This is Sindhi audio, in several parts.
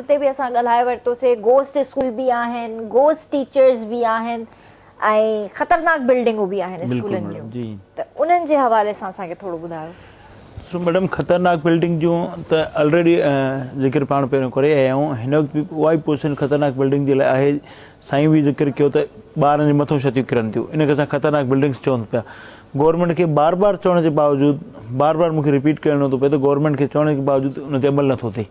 تي به اسان ڳالهائي ورتو سي گوسٽ اسڪول به آهن گوسٽ ٽيچرز به آهن ۽ خطرناڪ بلڊنگون به آهن اسڪولن جون ته انهن جي حوالي سان اسان کي ٿورو ٻڌايو. سو ميڊم خطرناڪ بلڊنگ جون ته الريڊي ذڪر پاڻ پهريون ڪري آيا آهيون هن وقت به اها ئي پوزيشن خطرناڪ بلڊنگ جي لاء آهي سائين به ذڪر ڪيو ته ٻارن جي مٿو شتيون ڪرن ٿيون ان کي اسان خطرناڪ بلڊنگس چون پيا گورنمينٽ کي بار بار چوڻ جي باوجود بار بار مونکي رپيٽ ڪرڻو ٿو پئي ته گورنمينٽ کي چوڻ جي باوجود ان تي عمل نٿو ٿئي.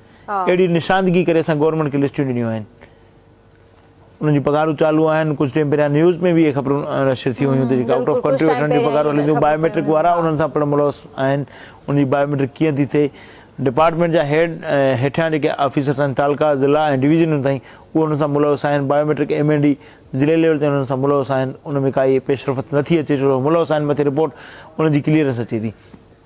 اهڙي نشاندگي ڪري اسان گورنمينٽ کي لسٽيون ڏنيون آهن انهن جون پگهارون چالو آهن ڪجهه ٽيم پهريان نيوز ۾ به اهي خبرون نشر ٿيون هيون ته جيڪي آئوٽ آف ڪنٽري ويٺل جون پگهارون هلن ٿيون بايو ميٽرڪ وارا انهن سان پڻ ملوث آهن ان جي بايو ميٽرڪ ڪيئن ٿي ٿئي ڊپارٽمينٽ جا هيڊ ۽ هيٺيان جيڪي آفيسرس آهن تعلقا ضلع ۽ ڊويزنن تائين اهي انهن سان ملوث آهن biometric M N D ضلعي ليول تائين انهن سان ملوث آهن ان ۾ ڪائي پيش رفت نٿي اچي ڇو جو ملوث آهن مٿي رپورٽ انهن جي ڪليئرنس اچي ٿي